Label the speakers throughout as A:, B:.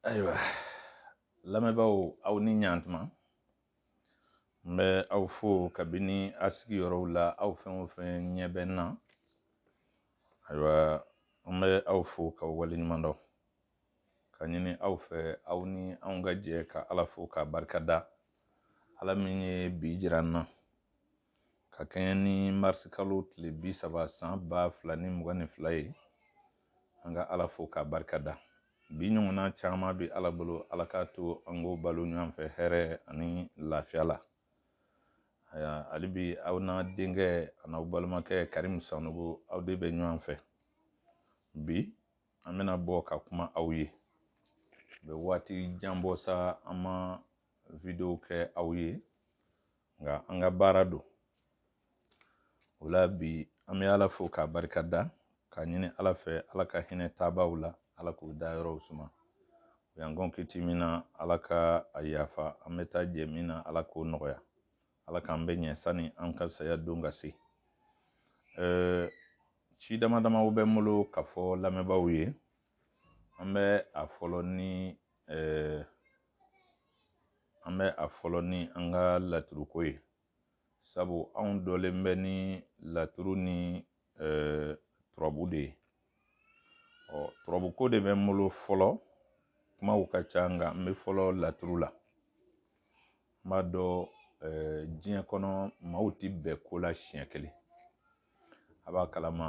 A: ayiwa lamɛnbaaw aw ni ɲantuma n bɛ aw fo kabini a sigiyɔrɔw la aw fɛn o fɛn ɲɛ bɛ n na ayiwa n bɛ aw fo k'aw waleɲuman dɔn ka ɲini aw fɛ aw ni anw ka jɛ ka ala fo k'a barika da ala min ye bi jira n na ka kɛɲɛ ni marisi kalo tile bi saba san ba fila ni mugan ni fila ye An ka Ala fo k'a barika da. Bi ɲɔgɔnna caman bɛ Ala bolo, Ala k'a to an k'o balo ɲɔgɔn fɛ hɛrɛ ani lafiya la. Aya, hali bi aw n'a denkɛ an'aw balimakɛ Karimu Sanogo, aw de bɛ ɲɔgɔn fɛ. Bi, an bɛna bɔ ka kuma aw ye. Bɛ waati jan bɔ sa an ma video kɛ aw ye. nka an ka baara don o la bi an bɛ ala fo k'a barika da k'a ɲini ala fɛ ala ka hinɛ taabaaw la ala k'u dayɔrɔw suma u y'an kɔn kiti min na ala ka a yafa an bɛ taa jɛ min na ala k'o nɔgɔya ala k'an bɛɛ ɲɛ sani an ka saya don ka se ɛɛ ci dama damaw bɛ n bolo ka fɔ lamɛnbaaw ye an bɛ a fɔlɔ ni ɛɛ an bɛ a fɔlɔ ni an ka laturuko ye sabu anw dɔnnen bɛ ni laturu ni turabu de ye ɔ turabuko de bɛ n bolo fɔlɔ kumaw ka ca nka n bɛ fɔlɔ laturu la n b'a dɔn diɲɛ kɔnɔ maaw tɛ bɛn ko la siɲɛ kelen a b'a kalama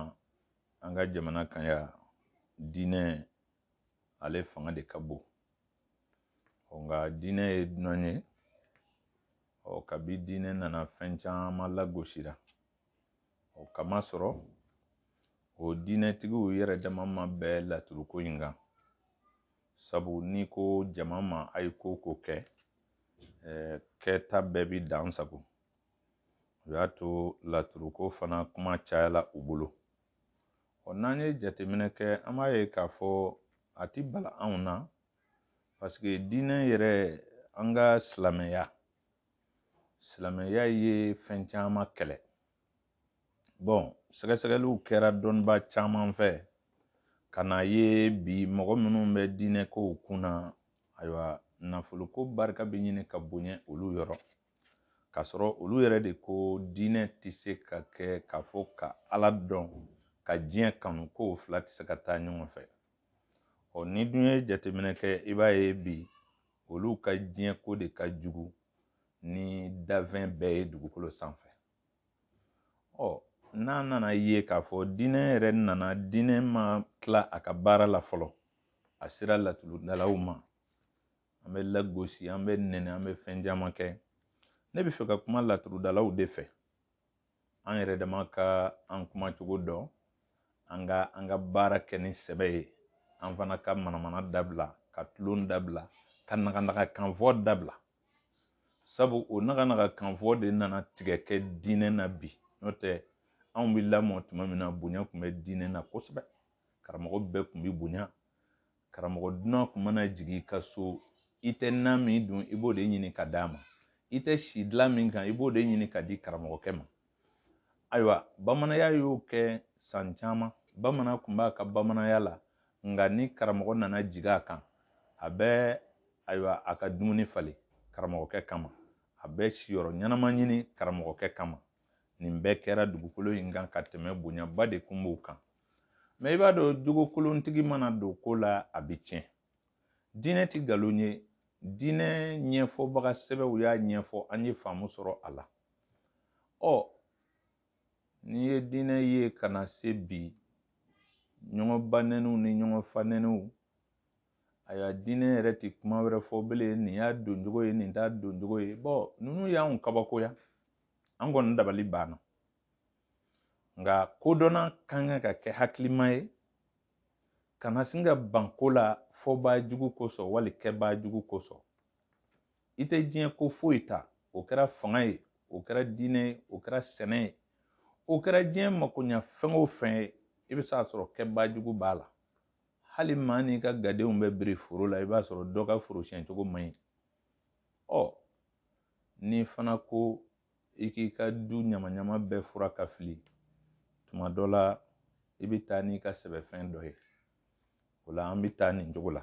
A: an ka jamana kan yan diinɛ ale fanga de ka bon nka diinɛ ye dunan ye ɔ kabi diinɛ nana fɛn caman lagosira o k'a masɔrɔ o diinɛtigiw yɛrɛ dama ma bɛn laturuko in kan sabu n'i ko jama ma a ye ko ko kɛ kɛta bɛɛ bi dan sago o y'a to laturuko fana kuma cayala u bolo Ɔ n'an ye jateminɛ kɛ an b'a ye k'a fɔ a ti bala anw na paseke diinɛ yɛrɛ an ka silamɛya silamɛya ye fɛn caman kɛlɛ bɔn sɛgɛsɛgɛliw kɛra dɔnnibaa caman fɛ ka na ye bi mɔgɔ minnu bɛ diinɛ kow kun na ayiwa nafoloko barika bɛ ɲini ka bonya olu yɔrɔ k'a sɔrɔ olu yɛrɛ de ko diinɛ tɛ se ka kɛ k'a fɔ ka ala dɔn ka diɲɛ kanu ko o fila tɛ se ka taa ɲɔgɔn fɛ ɔ n'i dun ye jateminɛ kɛ i b'a ye bi olu ka diɲɛ ko de ka jugu ni danfɛn bɛɛ ye dugukolo sanfɛ ɔ n'a nana ye k'a fɔ diinɛ yɛrɛ nana diinɛ ma tila a ka baara la fɔlɔ a sera laturudalaw ma an bɛ lagosi an bɛ nɛni an bɛ fɛn caman kɛ ne bɛ fɛ ka kuma laturudalaw de fɛ an yɛrɛ dama ka an kumacogo dɔn an ka an ka baara kɛ ni sɛbɛ ye an fana ka manamana dabila ka tulon dabila ka naganaga kanfɔ dabila sabu o naganaga kanfɔ de nana tigɛ kɛ diinɛ na bi n'o tɛ anw bɛ lamɔ tuma min na bonya tun bɛ diinɛ na kosɛbɛ karamɔgɔ bɛɛ tun bɛ bonya karamɔgɔ dunan tun mana jigin i ka so i tɛ nan min dun i b'o de ɲini ka d'a ma i tɛ si dilan min kan i b'o de ɲini ka di karamɔgɔkɛ ma ayiwa bamananya y'o kɛ san caman bamanan tun b'a ka bamananya la nka ni karamɔgɔ nana jigin a kan a bɛ ayiwa a ka dumuni falen karamɔgɔkɛ kama a bɛ siyɔrɔ ɲɛnama ɲini karamɔgɔkɛ kama nin bɛɛ kɛra dugukolo in kan ka tɛmɛ bonyaba de kun b'o kan mɛ i b'a dɔn jogokolontigi mana don ko la a bɛ tiɲɛ diinɛ ti nkalon ye diinɛ ɲɛfɔbaga sɛbɛw y'a ɲɛfɔ an ye faamu sɔrɔ a la ɔ n'i ye diinɛ ye ka na se bi ɲɔgɔn banɛniw ni ɲɔgɔn fanɛniw ayiwa diinɛ yɛrɛ ti kuma wɛrɛ fɔ bilen nin y'a doncogo ye nin t'a doncogo ye bɔn ninnu y'anw kabakoya an kɔni dabali banna nka kodɔnna ka kan ka kɛ hakilima ye kana sin ka ban ko la fɔbaa jugu kosɔn wali kɛbaa jugu kosɔn i tɛ diɲɛ ko foyi ta o kɛra fanga ye o kɛra diinɛ ye o kɛra sɛnɛ ye o kɛra diɲɛ makoɲa fɛn o fɛn ye i bɛ se a sɔrɔ kɛbaa jugu b'a la hali maa n'i ka gadenw bɛ biri foro la i b'a sɔrɔ dɔ ka foro siɲɛcogo man ɲi ɔ n'i fana ko i k'i ka du ɲamaɲama bɛɛ furan ka fili tuma dɔ la i bɛ taa n'i ka sɛbɛfɛn dɔ ye o la an bɛ taa nin cogo la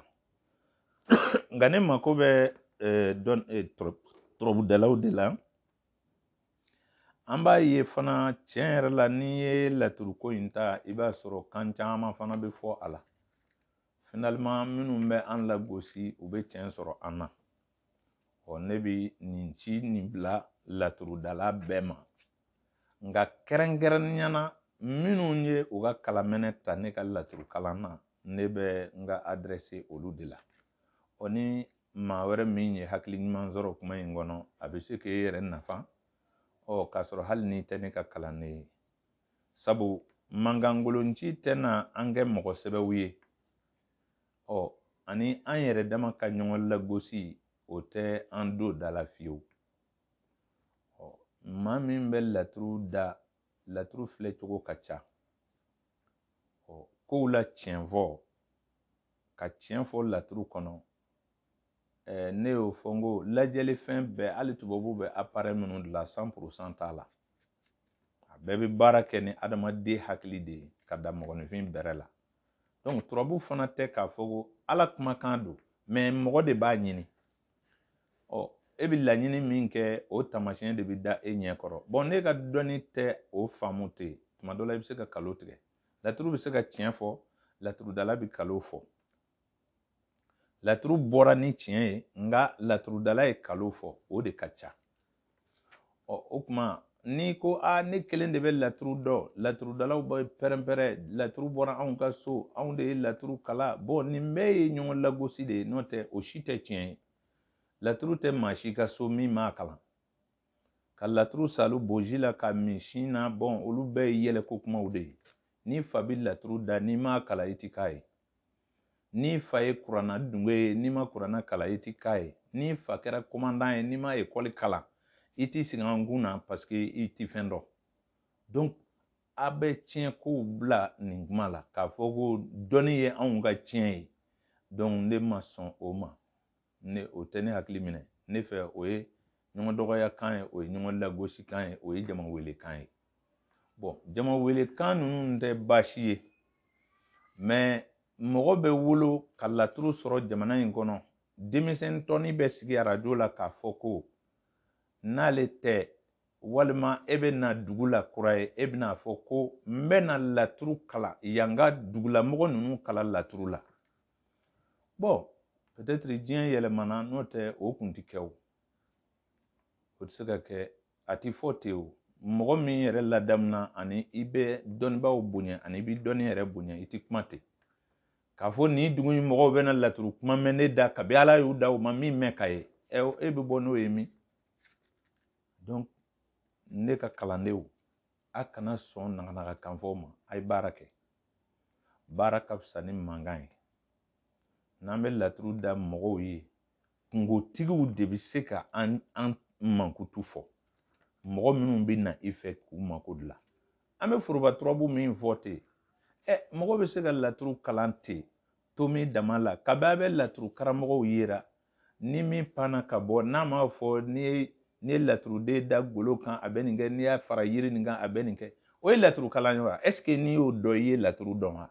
A: nka ne mako bɛ eh, dɔn eh, turabudalaw de la an b'a ye fana tiɲɛ yɛrɛ la n'i ye laturuko in ta i b'a sɔrɔ kan caman fana bɛ fɔ a la finalement minnu bɛ an lagosi u bɛ tiɲɛ sɔrɔ an na ɔ ne bɛ nin ci nin bila laturudala bɛɛ ma nka kɛrɛnkɛrɛnnenya na minnu ye u ka kalamɛnɛ ta ne ka laturu kalan na ne bɛ n ka adrɛse olu de la ɔ ni maa wɛrɛ min ye hakili ɲuman sɔrɔ kuma in kɔnɔ a bɛ se k'e yɛrɛ nafa ɔ k'a sɔrɔ hali n'i tɛ ne ka kalanden ye sabu mankankolonci tɛna an kɛ mɔgɔ sɛbɛw ye ɔ ani an yɛrɛ dama ka ɲɔgɔn lagosi o tɛ an don da la fiyewu ɔ maa min bɛ laturu da laturu filɛ cogo ka ca ɔ kow la tiɲɛ fɔ ka tiɲɛ fɔ laturu kɔnɔ ɛɛ ne y'o fɔ n ko lajɛlifɛn bɛɛ hali tubabu bɛ aparɛ minnu dilan san purusan t'a la a bɛɛ bɛ baara kɛ ni adamaden hakili de ye ka da mɔgɔninfin bɛrɛ la donc turabu fana tɛ k'a fɔ ko ala kumakan don mɛ mɔgɔ de b'a ɲini ɔ e bɛ laɲini min kɛ o tamasiyɛn de bɛ da e ɲɛ kɔrɔ bɔn n'e ka dɔnni tɛ o faamu ten tuma dɔ la i bɛ se ka kalon tigɛ laturu bɛ se ka tiɲɛ fɔ laturudala bɛ kalon fɔ laturu bɔra ni tiɲɛ ye nka laturudala ye kalon fɔ o de ka ca ɔ o tuma n'i ko a ne kelen de bɛ laturu dɔn laturudalaw bɛ pɛrɛnpɛrɛn laturu bɔra anw ka so anw de ye laturu kalan bɔn nin bɛɛ ye ɲɔgɔn lagosi de ye n'o tɛ o si tɛ tiɲɛ ye laturu tɛ maa si ka so min m'a kalan ka laturu salu boji la ka min sin na bɔn olu bɛɛ ye yɛlɛko kumaw de ye n'i fa bɛ laturu da n'i m'a kalan i ti k'a ye N'i fa ye kurana dunge ye, n'i ma kurana kalan, i tɛ k'a ye. N'i fa kɛra komandan ye, n'i ma ekɔli kalan, i t'i sigi an kun na parce que i tɛ fɛn dɔn. Donc, a bɛ tiɲɛ kow bila nin kuma la k'a fɔ ko dɔnni ye anw ka tiɲɛ ye. Donc, ne ma sɔn o ma. ne o tɛ ne hakili minɛ ne fɛ o ye ɲɔgɔn dɔgɔya kan ye o ye ɲɔgɔn lagosi kan ye o ye jama wele kan ye bɔn jama wele kan ninnu tɛ baasi ye mɛ mɔgɔ bɛ wolo ka laturu sɔrɔ jamana in kɔnɔ denmisɛn tɔni bɛ sigi arajo la k'a fɔ ko n'ale tɛ walima e bɛ na dugu la kura ye e bɛn'a fɔ ko n bɛ na laturu kalan yan ka dugulamɔgɔ ninnu kalan laturu la bɔn pɛtɛtiri diɲɛ yɛlɛmana n'o tɛ o kun ti kɛ o o ti se ka kɛ a ti fɔ ten o mɔgɔ min yɛrɛ ladamuna ani i bɛ dɔnnibaaw bonya ani i bɛ dɔnni yɛrɛ bonya i ti kuma ten k'a fɔ nin dugu in mɔgɔw bɛna laturu kuma mɛn ne da kabi ala y'u da u ma min mɛn k'a ye ɛ e bɛ bɔ n'o ye min donc ne ka kalandenw a kana sɔn naganaga kan fɔ ma a ye baara kɛ baara ka fisa ni mankan ye n'an bɛ laturu da mɔgɔw ye kunkotigiw de bɛ se ka an mankutu fɔ mɔgɔ minnu bɛ na i fɛ k'u mako dilan an bɛ foroba turabu min fɔ ten ɛ mɔgɔ bɛ se ka laturu kalan ten tomi dama la kab'a bɛ laturu karamɔgɔw yera ni min panna ka bɔ n'a m'a fɔ n'i ye n'i ye laturuden da golo kan a bɛ nin kɛ n'i y'a fara yiri nin kan a bɛ nin kɛ o ye laturu kalan ye wa est-ce que n'i y'o dɔn i ye laturu dɔn wa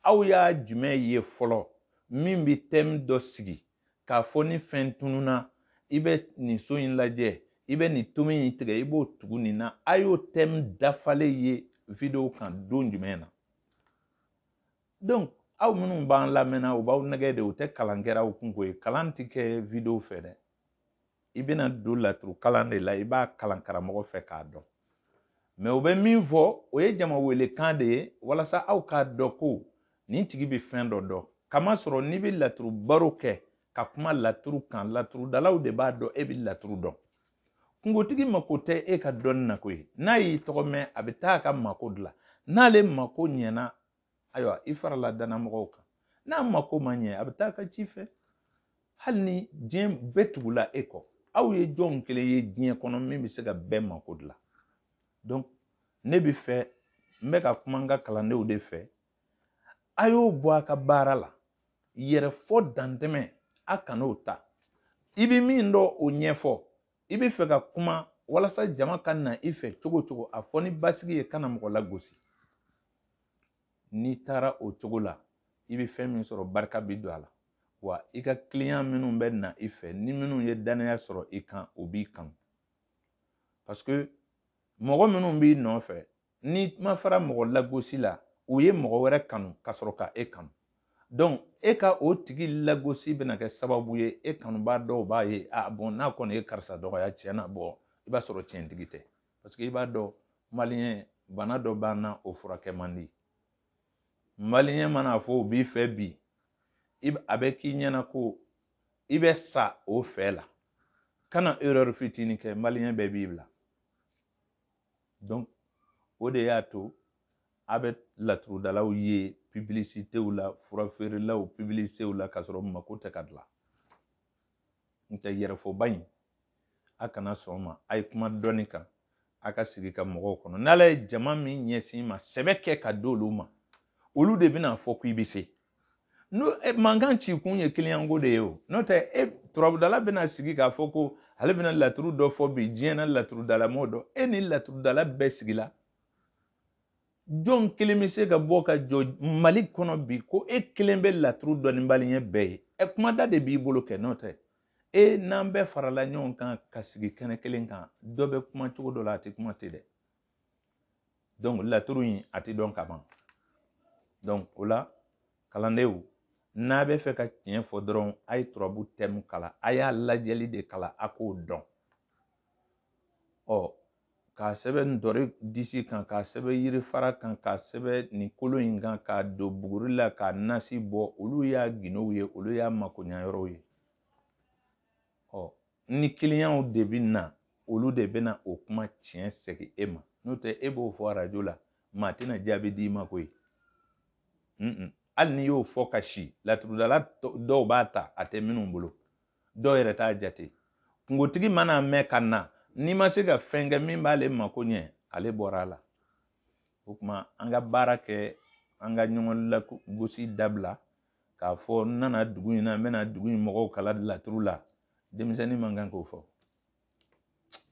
A: aw y'a jumɛn ye fɔlɔ min bɛ thème dɔ sigi k'a fɔ ni fɛn tununna i bɛ nin so in lajɛ i bɛ nin tomi in tigɛ i b'o tugu nin na a y'o thème dafalen ye video kan don jumɛn na donc aw minnu b'an lamɛnna u b'aw nɛgɛn de u tɛ kalan kɛra aw kun koyi kalan tɛ kɛ video fɛ dɛ i bɛna don laturu kalan de la i b'a kalan karamɔgɔ fɛ k'a dɔn mais u bɛ min fɔ o ye jama wele kan de ye walasa aw k'a dɔn ko nin tigi bɛ fɛn dɔ dɔn k'a masɔrɔ n'i bɛ laturu baro kɛ ka kuma laturu kan laturudalaw de b'a dɔn e bɛ laturu dɔn kunkotigi mako tɛ e ka dɔnni na koyi n'a y'i tɔgɔ mɛn a bɛ taa a ka mako dilan n'ale mako ɲɛna ayiwa i farala dannamɔgɔw kan n'a mako ma ɲɛ a bɛ taa a ka ci fɛ hali ni diɲɛ bɛɛ tugula e kɔ aw ye jɔn kelen ye diɲɛ kɔnɔ min bɛ se ka bɛɛ mako dilan donc ne bɛ fɛ n bɛ ka kuma n ka kalandenw de fɛ a y'o bɔ a ka baara la yɛrɛfɔ dantɛmɛ a kan'o ta i bɛ min dɔn o ɲɛfɔ i bɛ fɛ ka kuma walasa jama ka na i fɛ cogo cogo a fɔ ni basigi ye kana mɔgɔ lagosi n'i taara o cogo la i bɛ fɛn min sɔrɔ barika bɛ don a la wa i ka client minnu bɛ na i fɛ ni minnu ye danaya sɔrɔ i kan o b'i kanu parce que mɔgɔ minnu b'i nɔfɛ N'i ma fara mɔgɔ lagosi la, u ye mɔgɔ wɛrɛ kanu ka sɔrɔ ka e kanu. Donc e ka o tigi lagosi bɛna kɛ sababu ye e kanubaa dɔw b'a ye ah bon n'a kɔni ye karisa dɔgɔya tiɲɛ na bon i b'a sɔrɔ tiɲɛtigi tɛ parce que i b'a dɔn maliyɛn bana dɔ b'an na o furakɛ man di. Maliyɛn mana fɔ o b'i fɛ bi a bɛ k'i ɲɛ na ko i bɛ sa o fɛ la kana erreur fitinin kɛ maliyɛn bɛɛ b'i bila. donc o de y'a to a bɛ laturudalaw ye publicitéw la furafeerelaw publicitéw la ka sɔrɔ mako tɛ ka dilan n tɛ yɛrɛfɔba in a kana sɔn ma a ye kuma dɔɔni kan a ka sigi ka mɔgɔw kɔnɔ n'ala ye jama min ɲɛsin i ma sɛbɛ kɛ ka di olu ma olu de bɛna a fɔ ko i bɛ se n'o e, mankan ci kun ye kiliyanko de ye o n'o tɛ e turabudala bɛna sigi k'a fɔ ko ale bɛna laturu dɔ fɔ bi diɲɛ na laturudala mɔgɔ dɔ e ni laturudala bɛɛ sigila jɔn kelen bɛ se ka bɔ ka jɔ mali kɔnɔ bi ko e kelen bɛ laturu dɔn ni maliyɛn bɛɛ ye ɛ kumada de b'i bolo kɛ n'o tɛ e n'an bɛɛ farala ɲɔgɔn kan ka sigi kɛnɛ kelen kan dɔ bɛ kuma cogo dɔ la a tɛ kuma ten dɛ donc laturu in a tɛ dɔn ka ban donc o la kalandenw n'a bɛ fɛ ka tiɲɛ fɔ dɔrɔn a ye turabu tɛmu kala a y'a lajɛli de kala a k'o dɔn ɔ k'a sɛbɛn ntɔri disi kan k'a sɛbɛn yirifara kan k'a sɛbɛn nin kolo in kan k'a don buguri la k'a nasi bɔ olu y'a gindow ye olu y'a makoɲayɔrɔw ye ɔ ni kiliyanw de bɛ na olu de bɛna o kuma tiɲɛ segin e ma n'o tɛ e b'o fɔ arajo la maa tɛna jaabi d'i ma koyi hali n'i y'o fɔ ka si laturudala dɔw b'a ta a tɛ minnu bolo dɔw yɛrɛ t'a jate kunkotigi mana mɛn ka na n'i ma se ka fɛn kɛ min b'ale mako ɲɛ ale bɔra a la o tuma an ka baara kɛ an ka ɲɔgɔn lagosi dabila k'a fɔ n nana dugu in na n bɛna dugu in mɔgɔw kala laturu la denmisɛnnin man kan k'o fɔ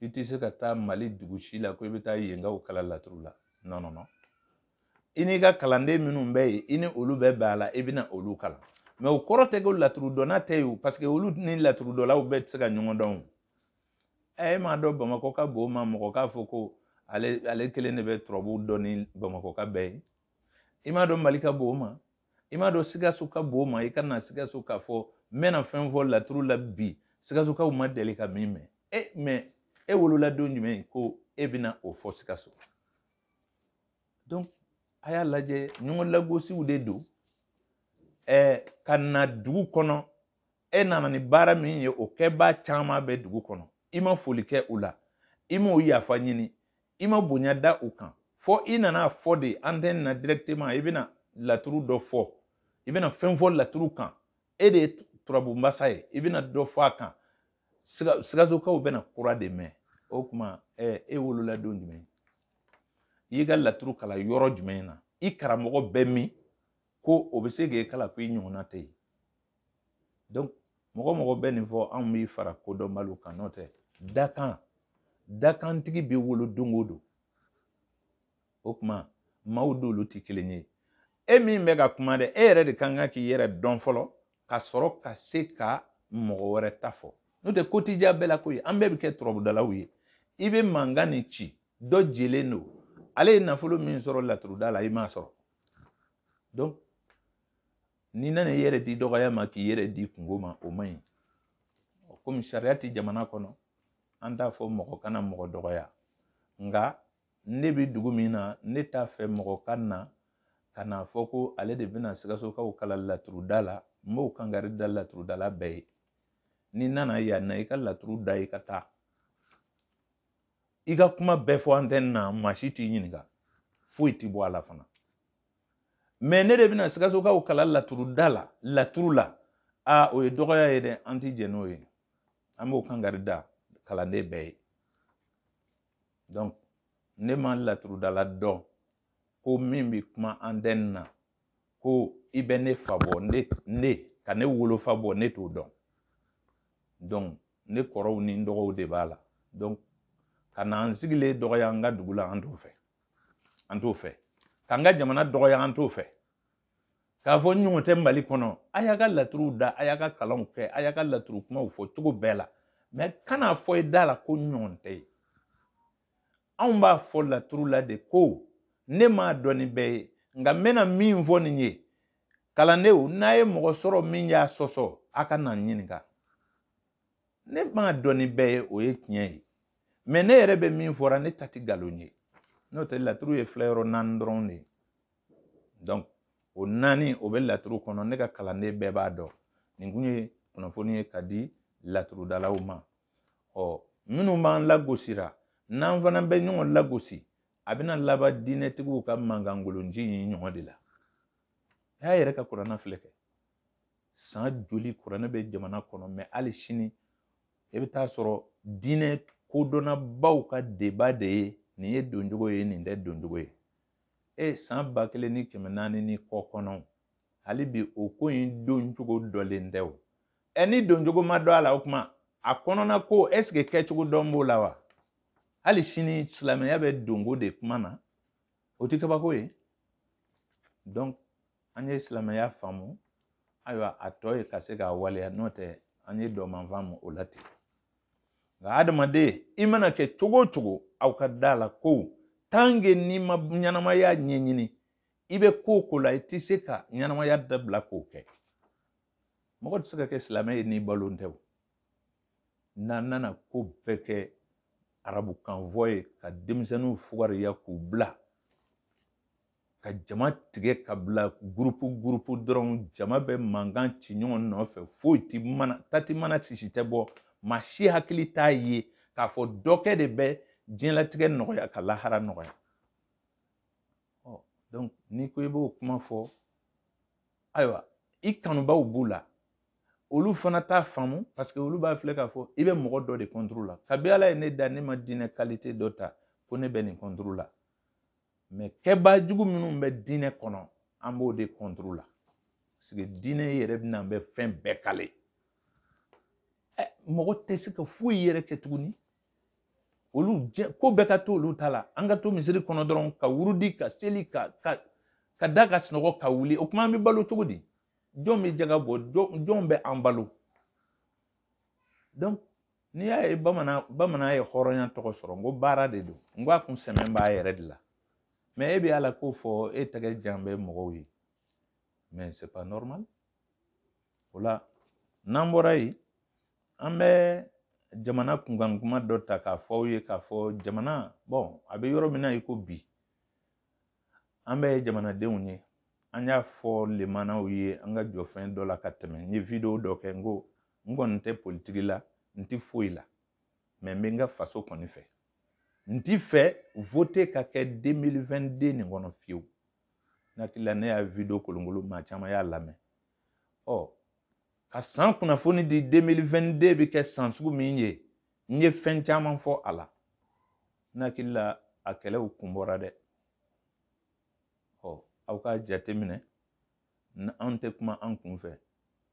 A: i tɛ se ka taa mali dugu si la ko i bɛ taa yenkaw kala laturu la nɔn nɔn nɔn i n'i ka kalanden minnu bɛ yen i ni olu bɛ bɛn a la i bɛna olu kalan mɛ o kɔrɔ tɛ ko laturu dɔnna tɛ yen paseke olu ni laturu dɔnlaw bɛɛ tɛ se ka ɲɔgɔn dɔn o ɛ e m'a dɔn bamakɔ ka bon o ma mɔgɔ k'a fɔ ko ale kelen de bɛ turabu dɔn ni bamakɔka bɛɛ ye i m'a dɔn mali ka bon o ma i m'a dɔn sikaso ka bon o ma i ka na sikaso k'a fɔ n bɛna fɛn fɔ laturu la bi sikasokaw ma deli ka min mɛn ɛ mɛ e wolola don jumɛn ko e bɛna o fɔ sikaso donc a y'a lajɛ ɲɔgɔn lagosiw de don ɛɛ ka na dugu kɔnɔ e nana ni baara min ye o kɛbaa caman bɛ dugu kɔnɔ i ma foli kɛ u la i m'u yafa ɲini i ma bonya da u kan fɔ i nana fɔ de antɛni na directement i bɛna laturu dɔ fɔ i bɛna fɛn fɔ laturu kan e de ye turabu masa ye i bɛna dɔ fɔ a kan sikasokaw bɛna kura de mɛn o tuma e wolola don jumɛn i y'i ka laturu kala yɔrɔ jumɛn na i karamɔgɔ bɛ min ko o bɛ se k'e kala ko i ɲɔgɔnna tɛ yen donc mɔgɔ mɔgɔ bɛ nin fɔ anw b'i fara kodɔnbaliw kan n'o tɛ dakan dakantigi bɛ wolo don o don o tuma maaw dolu tɛ kelen ye e min bɛ ka kuma dɛ e yɛrɛ de kan ka k'i yɛrɛ dɔn fɔlɔ ka sɔrɔ ka se ka mɔgɔ wɛrɛ ta fɔ n'o tɛ ko t'i diya bɛɛ la koyi an bɛɛ bɛ kɛ turabudalaw ye i bɛ mankan nin ci dɔ jelen don ale ye nafolo min sɔrɔ laturuda la i m'a sɔrɔ donc n'i nana i yɛrɛ di dɔgɔya ma k'i yɛrɛ di kunko ma o man ɲi komi sariya tɛ jamana kɔnɔ an t'a fɔ mɔgɔ kana mɔgɔ dɔgɔya nka ne bɛ dugu min na ne t'a fɛ mɔgɔ ka na ka n'a fɔ ko ale de bɛna sikasokaw kalan laturuda la n b'o kankari da laturudala bɛɛ ye n'i nana yan na i ka laturu da i ka taa i ka kuma bɛɛ fɔ antɛni na maa si t'i ɲininka foyi t'i bɔ a la fana mɛ ne de bɛna sikasokaw kalan laturuda la laturu la a o ye dɔgɔya ye dɛ an ti jɛn n'o ye an b'o kankari da kalanden bɛɛ ye donc ne ma laturudala dɔn ko min bɛ kuma antɛni na ko i bɛ ne fa bɔ ne ne ka ne wolofa bɔ ne t'o dɔn donc ne kɔrɔw ni n dɔgɔw de b'a la donc ka na an sigilen dɔgɔya an ka dugu la an t'o fɛ an t'o fɛ k'an ka jamana dɔgɔya an t'o fɛ k'a fɔ n ɲɔgɔn tɛ mali kɔnɔ a y'a ka laturuw da a y'a ka kalanw kɛ a y'a ka laturu kumaw fɔ cogo bɛɛ la mɛ kan'a fɔ i da la ko n ɲɔgɔn tɛ yen anw b'a fɔ laturu la de ko ne m'a dɔn ni bɛɛ ye nka n bɛna min fɔ nin ye kalandenw n'a ye mɔgɔ sɔrɔ min y'a sɔsɔ a ka na n ɲininka ne m'a dɔn ni bɛɛ ye o ye tiɲɛ ye mɛ ne yɛrɛ bɛ min fɔra ne ta tɛ nkalon ye n'o tɛ laturu ye filɛ yɔrɔ naani dɔrɔn de ye donc o naani o bɛ laturu kɔnɔ ne ka kalanden bɛɛ b'a dɔn nin kun ye kunnafoni ye ka di laturudalaw ma ɔ minnu b'an lagosira n'an fana bɛ ɲɔgɔn lagosi a bɛna laban diinɛtigiw ka mankankolonci in ɲɔgɔn de la a y'a yɛrɛ ka kuranɛ filɛ kɛ san joli kuranɛ bɛ jamana kɔnɔ mɛ hali sini e bɛ t'a sɔrɔ diinɛ kodɔnnabaw ka deba de ye nin ye doncogo ye nin tɛ doncogo ye e san ba kelen ni kɛmɛ naani ni kɔ kɔnɔ hali bi o ko in doncogo dɔnnen tɛ o ɛ ni doncogo ma dɔn a la o kuma a kɔnɔna ko ɛsike kɛcogo dɔn b'o la wa hali sini silamɛya bɛ donko de kuma na o tɛ kabako ye donc an ye silamɛya faamu ayiwa a tɔ ye ka se k'a waleya n'o tɛ an ye dɔman faamu o la ten nka adamaden i mana kɛ cogo o cogo aw ka da la ko tant que n'i ma ɲɛnamaya ɲɛɲini i bɛ ko o ko la i tɛ se ka ɲɛnamaya dabila k'o kɛ mɔgɔ tɛ se ka kɛ silamɛ ye n'i balon tɛ o n'an nana ko bɛɛ kɛ arabukanfɔ ye ka denmisɛnninw fugariya k'u bila ka jama tigɛ ka bila gurupu gurupu dɔrɔn jama bɛ mankan ci ɲɔgɔn nɔfɛ foyi ti mana ta ti mana sisi tɛ bɔ maa si hakili t'a ye k'a fɔ dɔ kɛ de bɛ diɲɛlatigɛ nɔgɔya ka lahara nɔgɔya donc n'i ko i b'o kuma fɔ ayiwa i kanubaw b'u la olu fana t'a faamu parce que olu b'a filɛ k'a fɔ i bɛ mɔgɔ dɔ de contre la kabi ala ye ne da ne ma diinɛ qualité dɔ ta ko ne bɛ nin contre la mais kɛbaa jugu minnu bɛ diinɛ kɔnɔ an b'o de contre la parce que diinɛ yɛrɛ bɛna bɛ fɛn bɛɛ kale mɔgɔ tɛ se ka foyi yɛrɛ kɛ tuguni olu jɛ ko bɛɛ ka to olu ta la an ka to misiri kɔnɔ dɔrɔn ka wurudi ka seli ka ka ka da ka sunɔgɔ ka wuli o tuma an bɛ balo cogo di jɔn bɛ jaga bɔ jɔn bɛ an balo donc n'i y'a ye bamanan bamanan ye hɔrɔnya tɔgɔ sɔrɔ n ko baara de don n ko a kun sɛmɛn b'a yɛrɛ de la mais e bɛ ala ko fɔ e tɛgɛ jan bɛ mɔgɔw ye mais c'est pas normal o la n'an bɔra yen an bɛ jamana kunkan kuma dɔ ta k'a fɔ aw ye k'a fɔ jamana bɔn a bɛ yɔrɔ min na i ko bi an bɛ jamanadenw ye an y'a fɔ ɲɛmaaw ye an ka jɔ fɛn dɔ la ka tɛmɛ n ye video dɔ kɛ n ko n kɔni tɛ politiki la n ti foyi la mais n bɛ n ka faso kɔni fɛ n ti fɛ vote ka kɛ 2022 nin kɔnɔ fiyewu n hakili la ne y'a video kolonkolo maa caman y'a lamɛn ɔ ka san kunnafoni di 2022 bɛ kɛ san sugu min ye n ye fɛn caman fɔ a la n hakili la a kɛlɛw kun bɔra dɛ ɔ aw ka jateminɛ anw tɛ kuma an kun fɛ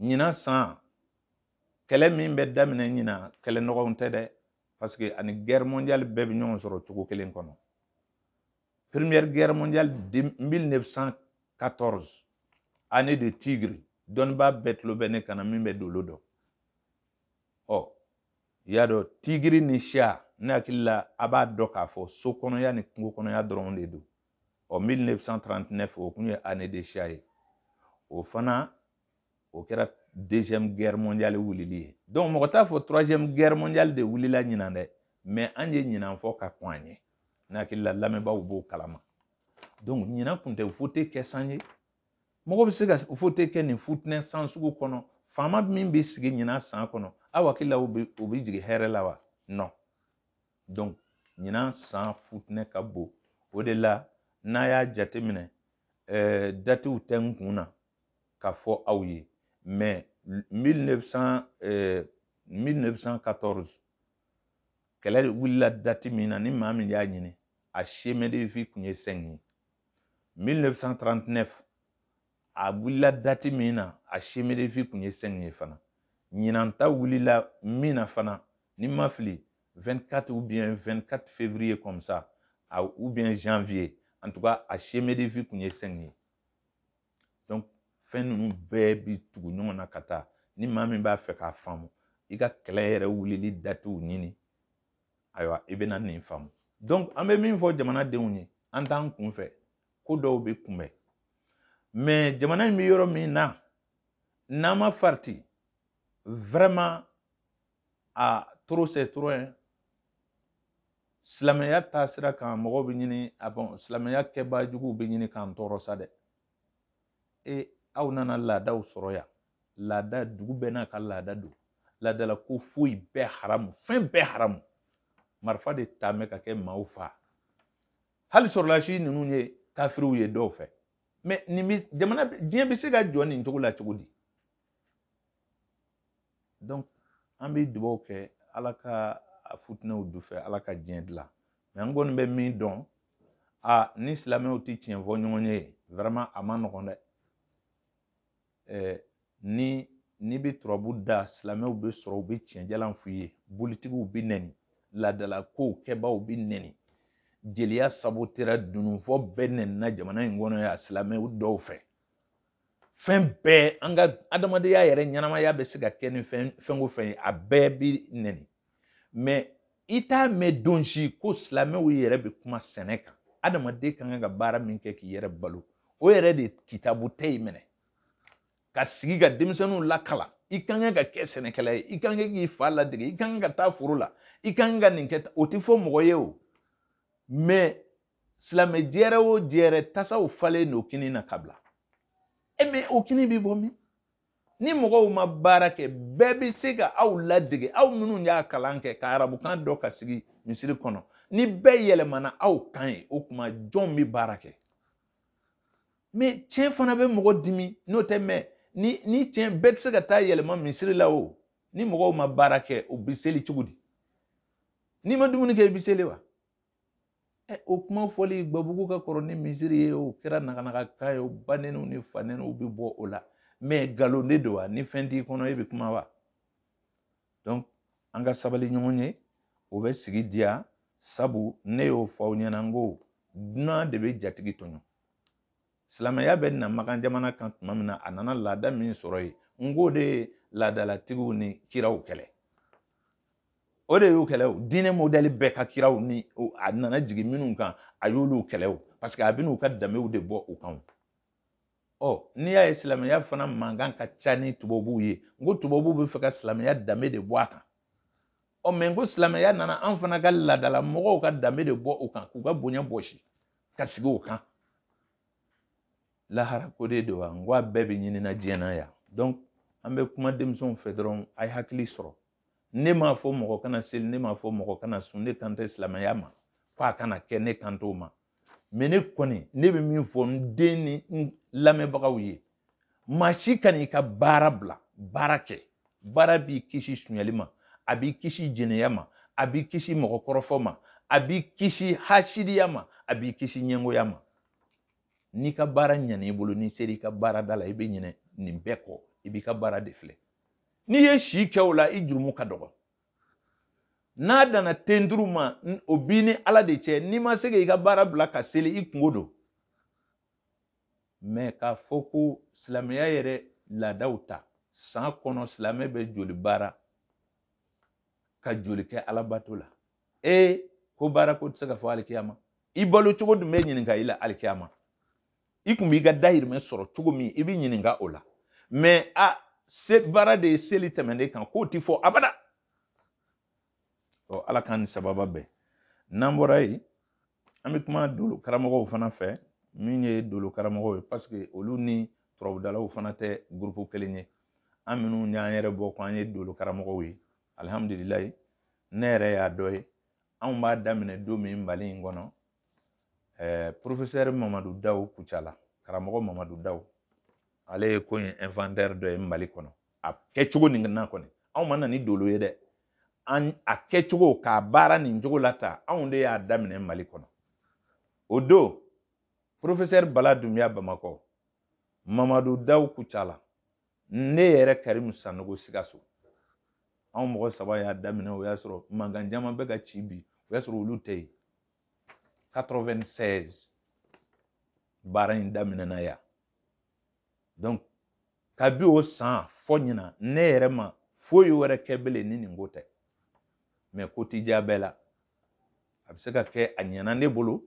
A: ɲinan san kɛlɛ min bɛ daminɛ ɲinan kɛlɛ nɔgɔw tɛ dɛ parce que a ni guerre mondiale bɛɛ bɛ ɲɔgɔn sɔrɔ cogo kelen kɔnɔ première guerre mondiale 1914 année de tigre dɔnnibaa bɛɛ tulo bɛ ne kan na min bɛ dolo dɔn ɔ i y'a dɔn tigiri ni chat ne hakili la a b'a dɔn k'a fɔ so kɔnɔya ni kungo kɔnɔya dɔrɔn de don ɔ 1939 o kun ye année de chat ye o fana o kɛra deuxième guerre mondiale wulili ye donc mɔgɔ t'a fɔ troisième guerre mondiale de wulila ɲinan dɛ mais an ye ɲinan fɔ ka kɔn a ɲɛ ne hakili la lamɛnbaaw b'o kalama donc ɲinan kun tɛ vote kɛ san ye mɔgɔ bɛ se ka vote kɛ nin futinɛ san sugu kɔnɔ faama min bɛ sigi ɲinan san kɔnɔ aw hakili la o bɛ jigin hɛrɛ la wa non donc ɲinan san futinɛ ka bon o de la n'a y'a jateminɛ eh, datiw tɛ n kun na k'a fɔ aw ye mais 1914 eh, kɛlɛ wulila dati min na ni maa min y'a ɲini a chemin de vie kun ye 5 ye 1939 a wulila dati min na a chemin de vie kun ye 5 ye fana ɲinan ta wulila min na fana ni n ma fili 24 ou bien 24 février comme ça a, ou bien janvier en tout cas a chemin de vie kun ye 5 ye donc fɛn ninnu bɛɛ bi tugu ɲɔgɔn na ka taa ni maa min b'a fɛ k'a faamu i ka kɛlɛ yɛrɛ wulili datiw ɲini ayiwa i bɛna nin faamu donc an bɛ min fɔ jamanadenw ye an t'an kunfɛ ko dɔw bɛ kunbɛn mais jamana in bɛ yɔrɔ min na n'an ma farati vraiment aa trop c'est trop hein silamɛya taasira kan mɔgɔw bɛ ɲini a bon silamɛya kɛbaa juguw bɛ ɲini k'an tɔɔrɔ sa dɛ e aw nana laadaw sɔrɔ yan laada dugu bɛɛ n'a ka laada don laadala ko foyi bɛɛ haramu fɛn bɛɛ haramu marifa de ta mɛ ka kɛ maaw fa hali sɔrɔlasi ninnu ye kafiriw ye dɔw fɛ mais nin bɛ jamana diɲɛ bɛ se ka jɔ nin cogo la cogo di donc an bɛ dubaw kɛ ala ka a futinɛw du fɛ ala ka diɲɛ dilan mais an kɔni bɛ min dɔn a ni silamɛw tɛ tiɲɛ fɔ ɲɔgɔn ye vraiment a ma nɔgɔn dɛ ɛɛ ni n'i bɛ turabu da silamɛw bɛ sɔrɔ u bɛ tiɲɛjalan f'u ye bolitigiw bɛ nɛni laadala kow kɛbaaw bɛ nɛni jeliya sabotera dununfɔ bɛɛ nɛnina jamana in kɔnɔ yan silamɛw dɔw fɛ fɛn bɛɛ an ka adamadenya yɛrɛ ɲɛnamaya bɛ se ka kɛ ni fɛn o fɛn ye a bɛɛ bi nɛni mais i t'a mɛn don si ko silamɛw yɛrɛ bɛ kuma sɛnɛ kan adamaden ka kan ka baara min kɛ k'i yɛrɛ balo o yɛrɛ de kitabu tɛ yen minɛ ka sigi ka denmisɛnninw lakala i ka kan ka kɛ sɛnɛkɛla ye i ka kan k'i fa ladege i ka kan ka taa foro la i ka kan ka nin kɛ o tɛ fɔ mɔgɔ ye o mais silamɛ jɛrɛ o jɛrɛ tasaw falen don kini na ka bila e mɛ o kini bɛ bɔ min ni mɔgɔw ma baara kɛ bɛɛ bɛ se ka aw ladege aw minnu y'a kalan kɛ ka arabukan dɔn ka sigi misiri kɔnɔ ni bɛɛ yɛlɛmana aw kan yen o tuma jɔn bɛ baara kɛ mɛ tiɲɛ fana bɛ mɔgɔ dimi n'o tɛ mɛ ni ni tiɲɛ bɛɛ tɛ se ka taa yɛlɛma misiri la o ni mɔgɔw ma baara kɛ u bɛ seli cogo di n'i ma dumuni kɛ i bɛ seli wa ɛ o kuma fɔli gbabugu ka kɔrɔ ni misiri ye o kɛra nakanakakan ye o banɛniw ni fanɛniw bɛ bɔ o la mɛ nkalon de don wa ni fɛn t'i kɔnɔ e bɛ kuma wa donc an ka sabali ɲɔgɔn ye o bɛ sigi diya sabu ne y'o fɔ aw ɲɛna n ko dunan de bɛ jatigi tɔɲɔ silamɛya bɛ na makan jamana kan tuma min na a nana laada min sɔrɔ yen n k'o de ye laadalatigiw ni kiraw kɛlɛ o de y'o kɛlɛ o diinɛ mɔdɛli bɛɛ ka kiraw ni a nana jigin minnu kan a y'olu kɛlɛ o parce que a bɛn'u ka danbew de bɔ u kan ɔ n'i y'a ye silamɛya fana mankan ka ca ni tubabuw ye n ko tubabuw b'a fɛ ka silamɛya danbe de bɔ a kan ɔ mɛ n ko silamɛya nana an fana ka laadala mɔgɔw ka danbe de bɔ u kan k'u ka bonya bɔsi ka sigi o kan lahara ko de don wa n ko a bɛɛ bɛ ɲinina diɲɛ na yan donc an bɛ kuma denmisɛnw fɛ dɔrɔn a ye hakili sɔrɔ ne m'a fɔ mɔgɔ kana seli ne m'a fɔ mɔgɔ kana sun ne kan tɛ silamɛya ma ko a kana kɛ ne kan t'o ma mɛ ne kɔni ne bɛ min fɔ n den ni n lamɛnbagaw ye maa si kan'i ka baara bila baara kɛ baara b'i kisi sunyali ma a b'i kisi jɛnɛya ma a b'i kisi mɔgɔ kɔrɔfɔ ma a b'i kisi hasidiya ma a b'i kisi ɲɛngoya ma n'i ka baara ɲan'i bolo n'i sera i ka baarada la i bɛ ɲinɛ nin bɛɛ kɔ i b'i ka baara de filɛ n'i ye si kɛ o la i jurumu ka dɔgɔ n'a danna ten duuru ma o b'i ni ala de cɛ n'i ma se ka i ka baara bila ka seli i kunko don mɛ k'a fɔ ko silamɛya yɛrɛ laadaw ta san kɔnɔ silamɛ bɛ joli baara ka joli kɛ alabato la e ko baara ko tɛ se ka fɔ alikiyama i balo cogo dun bɛ ɲininka i la alikiyama i kun b'i ka dayirimɛ sɔrɔ cogo min i bɛ ɲininka o la mɛ a se baara de ye seli tɛmɛnen kan k'o ti fɔ abada ɔ ala k'an ni sababa bɛn n'an bɔra yen an bɛ kuma dolo karamɔgɔw fana fɛ min ye dolo karamɔgɔw ye paseke olu ni turabudalaw fana tɛ gurupu kelen ye an minnu y'an yɛrɛ bɔ ko an ye dolo karamɔgɔw ye alihamudulilayi ne yɛrɛ y'a dɔ ye anw b'a daminɛ don min mali in kɔnɔ eh, profesɛri mamadu daw kucala karamɔgɔ mamadu daw ale ye ko in inventeur dɔ ye mali kɔnɔ a kɛcogo nin na kɔni anw ma na ni dolo ye dɛ an a kɛcogo k'a baara nin cogo la ta anw de y'a daminɛ mali kɔnɔ o don profesɛri bala dunbiya bamakɔ mamadu daw kucala ne yɛrɛ karimu sanogo sikaso anw mɔgɔ saba y'a daminɛ o y'a sɔrɔ mankan caman bɛ ka ci bi o y'a sɔrɔ olu tɛ yen 96 baara in daminɛna yan donc kabi o san fo ɲina ne yɛrɛ ma foyi wɛrɛ kɛ bele ni nin ko tɛ mais ko ti diya bɛɛ la a bɛ se ka kɛ a ɲɛna ne bolo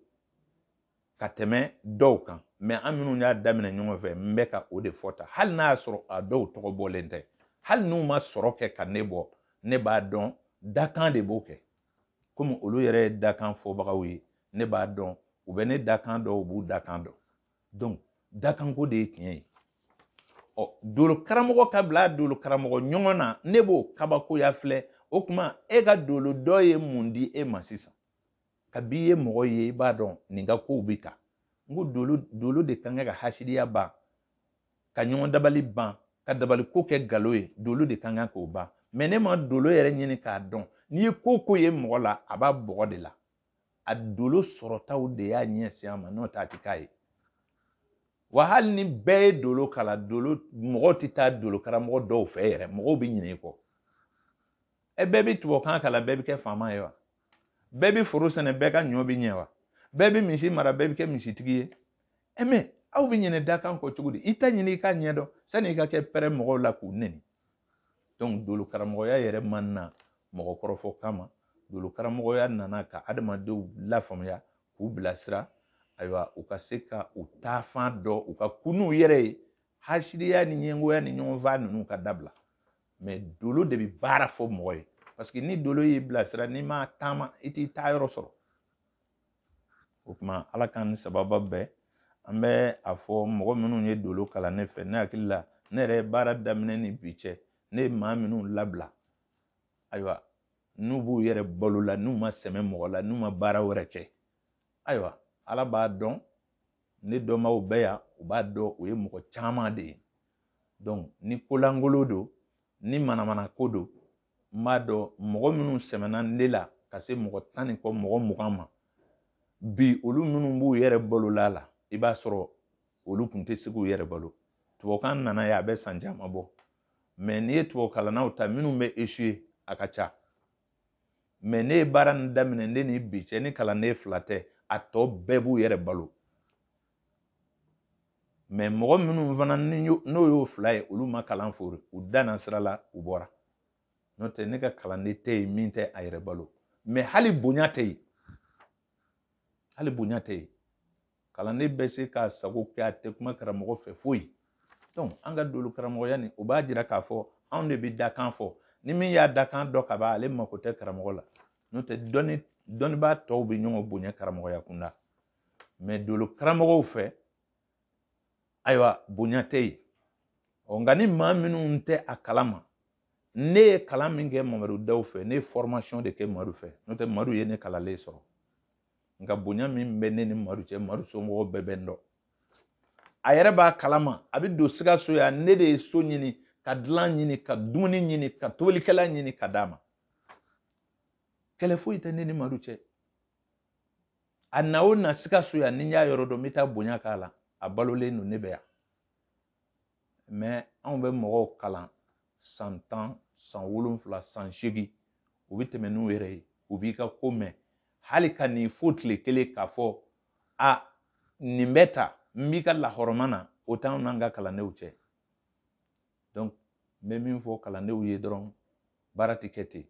A: ka tɛmɛ dɔw kan mais an minnu y'a daminɛ ɲɔgɔn fɛ n bɛ ka o de fɔ ta hali n'a y'a sɔrɔ a dɔw tɔgɔ bɔlen tɛ hali n'u ma sɔrɔ kɛ ka ne bɔ ne b'a dɔn dakan de b'o kɛ komi olu yɛrɛ ye dakan fɔbagaw ye ne b'a dɔn u bɛ ne dakan dɔn u b'u dakan dɔn donc dakanko de ye tiɲɛ ye ɔ dolo karamɔgɔ ka bila dolo karamɔgɔ ɲɔgɔn na ne b'o kabakoya filɛ o tuma e ka dolo dɔn ye mun di e ma sisan kabi i ye mɔgɔ ye i b'a dɔn nin ka kow bɛ tan n ko dolo dolo de kan ka hasidiya ban ka ɲɔgɔn dabali ban ka dabali ko kɛ galon ye dolo de kan kan k'o ban mais n'e ma dolo yɛrɛ ɲini k'a dɔn n'i ye ko o ko ye mɔgɔ la a b'a bɔgɔ de la a dolo sɔrɔtaw de y'a ɲɛsin a ma n'o t'a ti k'a ye wa hali ni bɛɛ ye dolo kalan dolo mɔgɔw tɛ taa dolo karamɔgɔ dɔw fɛ yɛrɛ mɔgɔw bɛ ɲinɛ i kɔ ɛ bɛɛ bɛ tubabukan kalan bɛɛ bɛ kɛ faama ye wa bɛɛ bɛ foro sɛnɛ bɛɛ ka ɲɔ bɛ ɲɛ wa bɛɛ bɛ misi mara bɛɛ bɛ kɛ misitigi ye ɛ mais aw bɛ ɲinɛ dakan kɔ cogo di i ta ɲini i k'a ɲɛdɔn sani i ka kɛ pɛrɛn mɔgɔw la k'u neni donc dolo karamɔgɔya yɛrɛ ma na mɔgɔ kɔrɔfɔ kama dolo karamɔgɔya nana ka adamadenw lafaamuya k'u bilasira ayiwa u ka se ka u taafan dɔn u ka kun n'u yɛrɛ ye hasidiya ni ɲɛngoya ni ɲɔgɔnfaa ninnu ka dabila mais dolo de bɛ baara fɔ mɔgɔ ye parce que ni dolo y'i bilasira n'i ma taama i t'i taa yɔrɔ sɔrɔ o tuma ala k'an ni sababu bɛn an bɛ a fɔ mɔgɔ minnu ye dolo kalan ne fɛ ne hakili la ne yɛrɛ ye baara daminɛ ni bi cɛ ne ye maa minnu labila ayiwa n'u b'u yɛrɛ balo la n'u ma sɛmɛ mɔgɔ la n'u ma baara wɛrɛ kɛ ayiwa ala b'a dɔn ne dɔnbaaw bɛ yan u b'a dɔn o ye mɔgɔ caman de ye donc ni kolangolo don ni manamana ko don n b'a dɔn mɔgɔ minnu sɛmɛna ne la ka se mɔgɔ tan ni kɔ mɔgɔ mugan ma bi olu minnu b'u yɛrɛ balo la i b'a sɔrɔ olu tun tɛ se k'u yɛrɛ balo tubabukan nana ye a bɛ san caman bɔ mais n'i ye tubabukalannaw ta minnu bɛ échoué a ka ca mais ne ye baara nin daminɛ ne ni bi cɛ ni kalanden fila tɛ a tɔ bɛɛ b'u yɛrɛ balo mais mɔgɔ minnu fana n'o y'o fila ye olu ma kalan fori u danna sira la u bɔra n'o tɛ ne ka kalanden tɛ yen min tɛ a yɛrɛ balo mais hali bonya tɛ yen hali bonya tɛ yen kalanden bɛ se k'a sago kɛ a tɛ kuma karamɔgɔ fɛ foyi donc an ka dolo karamɔgɔya nin o b'a jira k'a fɔ anw de bɛ dakan fɔ ni min y'a dakan dɔn ka ban ale mako tɛ karamɔgɔ la n'o tɛ dɔnni dɔnnibaa tɔw bɛ ɲɔgɔn bonya karamɔgɔya kunda mais dolo karamɔgɔw fɛ ayiwa bonya tɛ yen ɔ nka ni maa minnu tɛ a kalama ne ye kalan min kɛ mamadu daw fɛ ne ye formation de kɛ madu fɛ n'o tɛ madu ye ne kalannen sɔrɔ nka bonya min bɛ ne ni madu cɛ madu somɔgɔw bɛɛ bɛ n dɔn a yɛrɛ b'a kalama a bɛ don sikaso yan ne de ye so ɲini ka dilan ɲini ka dumuni ɲini ka tobilikɛla ɲini ka d'a ma kɛlɛ foyi tɛ ne ni madu cɛ a na o na sikaso yan ni n y'a yɔrɔ dɔn n bɛ taa bonya k'a la a balolen don ne bɛ yan mais anw bɛ mɔgɔw kalan san tan san wolonfila san seegin u bɛ tɛmɛ n'u yɛrɛ ye u b'i ka ko mɛn hali ka n'i fo tile kelen k'a fɔ a nin bɛ ta n b'i ka lahɔrɔma na o t'anw n'an ka kalandenw cɛ donc n bɛ min fɔ kalandenw ye dɔrɔn baara tɛ kɛ ten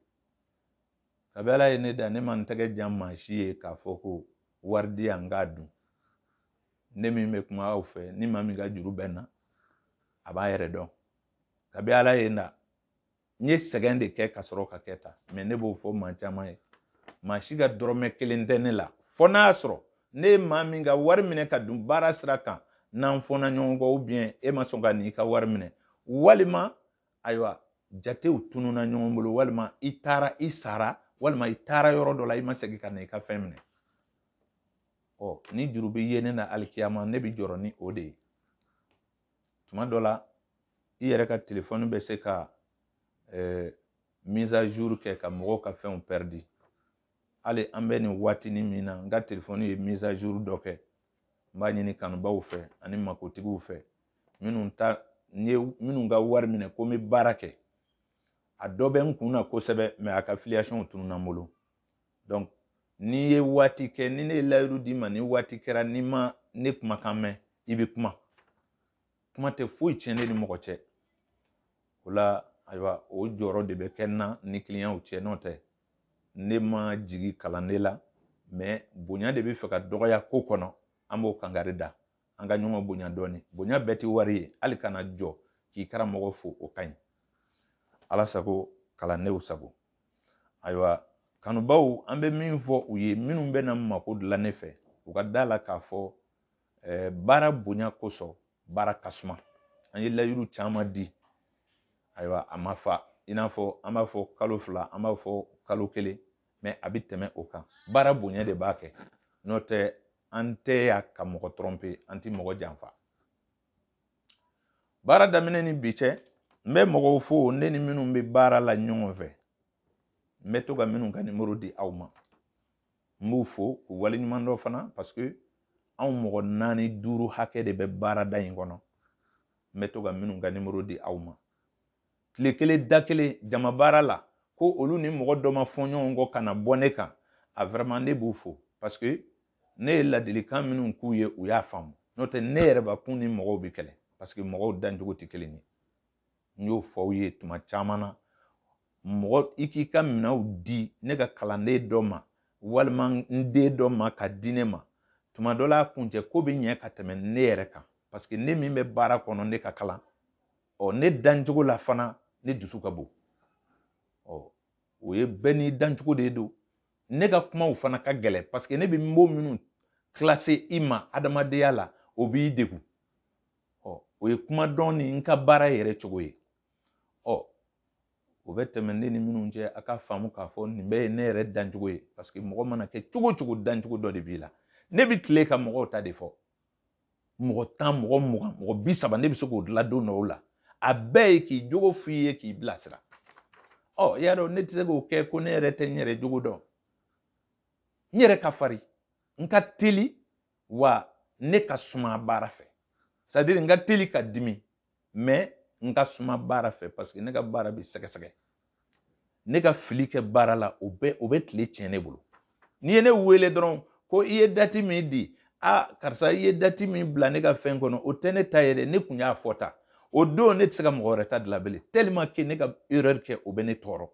A: kabi ala ye ne da ne ma n tɛgɛ jan maa si ye k'a fɔ ko wari di yan n k'a dun ne min bɛ kuma aw fɛ ni maa min ka juru bɛ n na a b'a yɛrɛ dɔn kabi ala ye n da n ye sɛgɛn de kɛ ka sɔrɔ ka kɛ ta mais ne b'o fɔ maa caman ye maa si ka dɔrɔmɛ kelen tɛ ne la fɔ n'a y'a sɔrɔ ne ye maa min ka wari minɛ ka dun baara sira kan n'an fɔna ɲɔgɔn kɔ ou bien e ma sɔn ka n'i ka wari minɛ walima ayiwa jatew tununa ɲɔgɔn bolo walima i taara i sara walima i taara yɔrɔ dɔ la i ma segin ka na i ka fɛn minɛ ɔ ni juru bɛ ye ne na alikiyama ne bɛ jɔrɔ ni o de ye tuma dɔ la i yɛrɛ ka telefɔni bɛ se ka eh, mise à jour kɛ ka mɔgɔw ka fɛnw pɛridi hali an bɛ nin waatinin min na n ka telefɔni ye mise à jour dɔ kɛ n b'a ɲini kanubaaw fɛ ani makotigiw fɛ minnu ta n ye minnu ka wari minɛ ko n bɛ baara kɛ a dɔ bɛ n kun na kosɛbɛ mɛ a ka filiyasɔnw tununna n bolo donc n'i ye waati kɛ ni ne ye layiru d'i ma ni waati kɛra n'i ma ne kumakan mɛn i bɛ kuma kuma tɛ foyi tiɲɛ ne ni mɔgɔ cɛ o la ayiwa o jɔyɔrɔ de bɛ kɛ n na ni kiliyanw cɛ n'o tɛ ne ma jigi kalanden la mɛ bonya de bɛ fɛ ka dɔgɔya ko kɔnɔ an b'o kangari da an ka ɲɔgɔn bonya dɔɔni bonya bɛɛ tɛ wari ye hali ka na jɔ k'i karamɔgɔ fo o ka ɲi ala sago kalandenw sago ayiwa kanubaw an bɛ min fɔ u ye minnu bɛna mako dilan ne fɛ u ka da la k'a fɔ Eh, baara bonya kosɔn baara ka suma an ye layiru caman di ayiwa a ma fa i n'a fɔ an b'a fɔ kalo fila an b'a fɔ kalo kelen mɛ a bɛ tɛmɛ o kan baara bonya de b'a kɛ n'o tɛ an tɛ yan ka mɔgɔ tɔrɔnpe an tɛ mɔgɔ janfa baara daminɛ ni bi cɛ n bɛ mɔgɔw fo ne ni minnu bɛ baara la ɲɔgɔn fɛ n bɛ to ka minnu ka nimoro di aw ma n b'u fo k'u waleɲuman dɔn fana parce que anw mɔgɔ naani duuru hakɛ de bɛ baarada in kɔnɔ n bɛ to ka minnu ka nimoro di aw ma tile kelen da kelen jama baara la ko olu ni mɔgɔ dɔ ma fɔ ɲɔgɔn kɔ ka na bɔ ne kan a vraiment ne b'u fo parce que ne ye ladilikan minnu k'u ye u y'a faamu n'o tɛ ne yɛrɛbakun ni mɔgɔw bɛ kɛlɛ parce que mɔgɔw dancogo tɛ kelen ye n y'o fɔ aw ye tuma caman na mɔgɔ i k'i ka minɛnw di ne ka kalanden dɔ ma walima n den dɔ ma ka di ne ma tuma dɔ la a kuncɛ ko bɛ ɲɛ ka tɛmɛ ne yɛrɛ kan paseke ne min bɛ baara kɔnɔ ne ka kalan ɔ ne dancogo la fana ne dusu ka bon ɔ o ye bɛɛ n'i dancogo de don ne ka kumaw fana ka gɛlɛn paseke ne bɛ mo minnu kilase i ma adamadenya la o b'i degun ɔ o ye kuma dɔn ni n ka baara yɛrɛ cogo ye ɔ o bɛ tɛmɛ ne ni minnu cɛ a k'a faamu k'a fɔ nin bɛɛ ye ne yɛrɛ dancogo ye parce que mɔgɔ mana kɛ cogo o cogo dancogo dɔ de b'i la ne bɛ tile ka mɔgɔw ta de fɔ mɔgɔ tan mɔgɔ mugan mɔgɔ bi saba ne bɛ se k'o dilan don dɔw la a bɛɛ ye k'i jogo f'i ye k'i bilasira i y'a dɔn ne tɛ se k'o kɛ ko ne yɛrɛ tɛ n yɛrɛ jogo dɔn n yɛrɛ ka farin n ka teli wa ne ka suma baara fɛ sadiri n ka teli ka dimi mɛ n ka suma baara fɛ paseke ne ka baara bɛ sɛgɛsɛgɛ ne ka fili kɛ baara la o bɛ o bɛ tile tiɲɛ ne bolo n'i ye ne wele dɔrɔn ko i ye dati min di a karisa i ye dati min bila ne ka fɛn kɔnɔ o tɛ ne ta ye dɛ ne kun y'a fɔ ta o don ne tɛ se ka mɔgɔ wɛrɛ ta dilan bilen tellement que ne ka erreur kɛ o bɛ ne tɔɔrɔ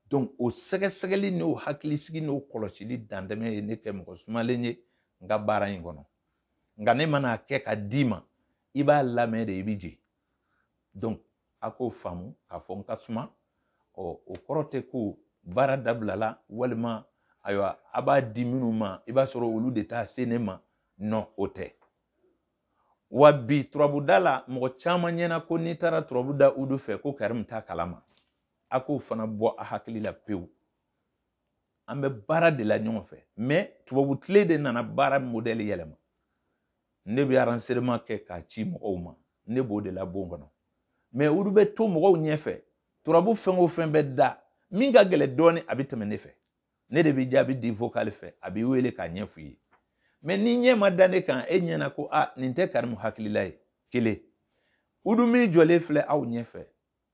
A: donc o sɛgɛsɛgɛli n'o hakilisigi n'o kɔlɔsili dantɛmɛ ye ne kɛ mɔgɔ sumalen ye n ka baara in kɔnɔ nka ne mana kɛ ka d'i ma i b'a lamɛn de i bɛ je donc a k'o faamu k'a fɔ n ka suma ɔ o kɔrɔ tɛ ko baara dabilala walima ayiwa a b'a di minnu ma i b'a sɔrɔ olu de t'a se ne ma non o tɛ wa bi turabuda la mɔgɔ caman ɲɛna ko n'i taara turabuda udu fɛ ko karimu t'a kalama a k'o fana bɔ a hakili la pewu an bɛ baara de la ɲɔgɔn fɛ mɛ tubabu tile de nana baara modɛli yɛlɛma ne bɛ enregistrement kɛ k'a ci mɔgɔw ma ne b'o de la bon kɔnɔ mɛ udu bɛ to mɔgɔw ɲɛfɛ turabu fɛn o fɛn bɛ da min ka gɛlɛ dɔɔni a bɛ tɛmɛ ne fɛ ne de bɛ jaabi di vokali fɛ a b'i wele k'a ɲɛf'i ye mɛ n'i ɲɛ ma da ne kan e ɲɛna ko a nin tɛ karimu hakilila ye kelen udu min jɔlen filɛ aw ɲɛfɛ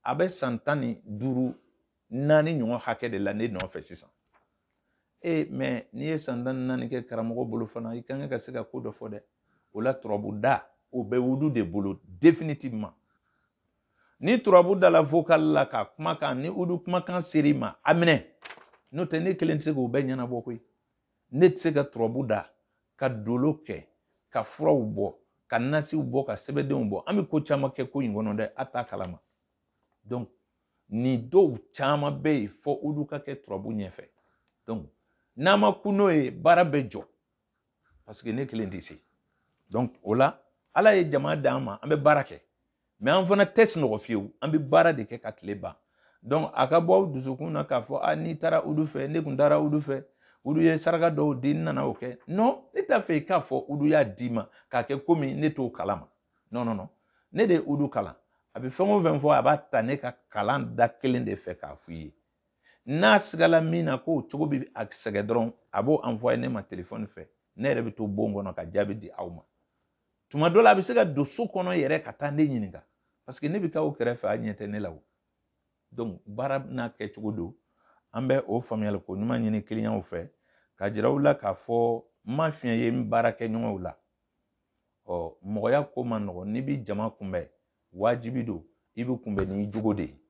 A: A bɛ san tan ni duuru naani ɲɔgɔn hakɛ de la ne nɔfɛ sisan e mɛ n'i ye san tan ni naani kɛ karamɔgɔ bolo fana i kan ka se ka ko dɔ fɔ dɛ o la turabuda o bɛ udu de bolo définitivement ni turabuda la vocal la ka kumakan ni udu kumakan ser'i ma a minɛ n'o tɛ ne kelen tɛ se k'o bɛɛ ɲɛnabɔ koyi Ne tɛ se ka turabu da ka dolo kɛ ka furaw bɔ ka nasiw bɔ ka sɛbɛdenw bɔ an bɛ ko caman kɛ ko in kɔnɔ dɛ a t'a kalama donc nin dɔw caman bɛ yen fo udu ka kɛ turabu ɲɛfɛ donc n'a ma kun o ye baara bɛ jɔ parce que ne kelen tɛ se donc o la ala ye jama d'an ma an bɛ baara kɛ mɛ an fana tɛ sunɔgɔ fiyewu an bɛ baara de kɛ ka tile ban donc a ka bɔ aw dusukun na k'a fɔ a ah, n'i taara udu fɛ ne tun taara udu fɛ udu ye saraka dɔw di n nana o kɛ non ne t'a fɛ i k'a fɔ udu y'a d'i ma k'a kɛ komi ne t'o kalama non non non ne de ye udu kalan a bɛ fɛn o fɛn fɔ a b'a ta ne ka kalan da kelen de fɛ k'a f'i ye n'a sigala min na k'o cogo bɛ a sɛgɛn dɔrɔn a b'o envoyer ne ma telefɔni fɛ ne yɛrɛ bɛ to bon kɔnɔ ka jaabi di aw ma tuma dɔ la a bɛ se ka don so kɔnɔ yɛrɛ ka taa ne ɲininka paseke ne bɛ t'aw kɛrɛfɛ a ɲɛ tɛ ne la o donc baara n'a kɛcogo don an bɛ o faamuyali ko ɲuman ɲini kiliyanw fɛ k'a jira u la k'a fɔ n ma fiɲɛ ye n baarakɛɲɔgɔnw la ɔ mɔgɔya ko man nɔgɔn n'i bɛ jama kunbɛn wajibi don i bɛ kunbɛn n'i jogo de ye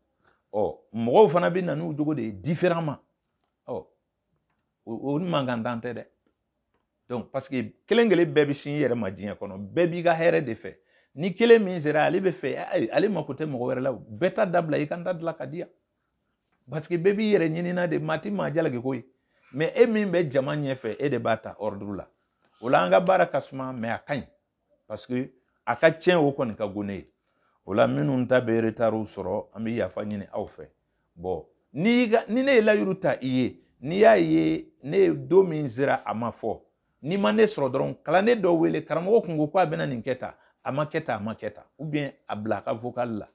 A: ɔ mɔgɔw fana bɛ na n'u jogo de ye différemment ɔ o ni mankan dan tɛ dɛ donc parce que kelen kelen bɛɛ bɛ sin i yɛrɛ ma diɲɛ kɔnɔ bɛɛ b'i ka hɛrɛ de fɛ ni kelen min sera ale b'a fɛ ale mako tɛ mɔgɔ wɛrɛ la o bɛɛ ta dabila i ka n ta dilan ka di yan parce que bɛɛ b'i yɛrɛ ɲinina de maa ti maa jalaki koyi mɛ e min bɛ jama ɲɛfɛ e de b'a ta ordre la o la an ka baara ka suma mɛ a ka ɲi parce que a ka tiɲɛ o kɔni ka go ne ye o la minnu ta bɛ retard sɔrɔ an bɛ yafa ɲini aw fɛ bon ni ne ye layiru ta i ye n'i y'a ye ne ye don min sera a ma fɔ n'i ma ne sɔrɔ dɔrɔn kalanden dɔ wele karamɔgɔ kun ko ko a bɛna nin kɛ tan a ma kɛ tan a ma kɛ tan ou bien a bila a ka vocal la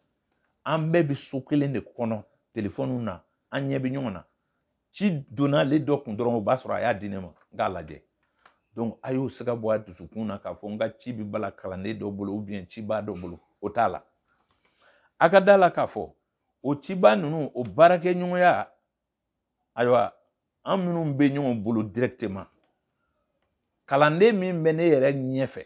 A: an bɛɛ bɛ so kelen de kɔnɔ telefɔniw na an ɲɛ bɛ ɲɔgɔn na ci donna ale dɔ kun dɔrɔn o b'a sɔrɔ a y'a di ne ma n k'a lajɛ donc a y'o siga bɔ a dusukun na k'a fɔ n ka ci bɛ balan kalanden dɔ bolo ou bien cibaa dɔ bolo o t'a la a ka da la k'a fɔ o cibaa ninnu o baarakɛɲɔgɔnya ayiwa an minnu bɛ ɲɔgɔn bolo directement kalanden min bɛ ne yɛrɛ ɲɛfɛ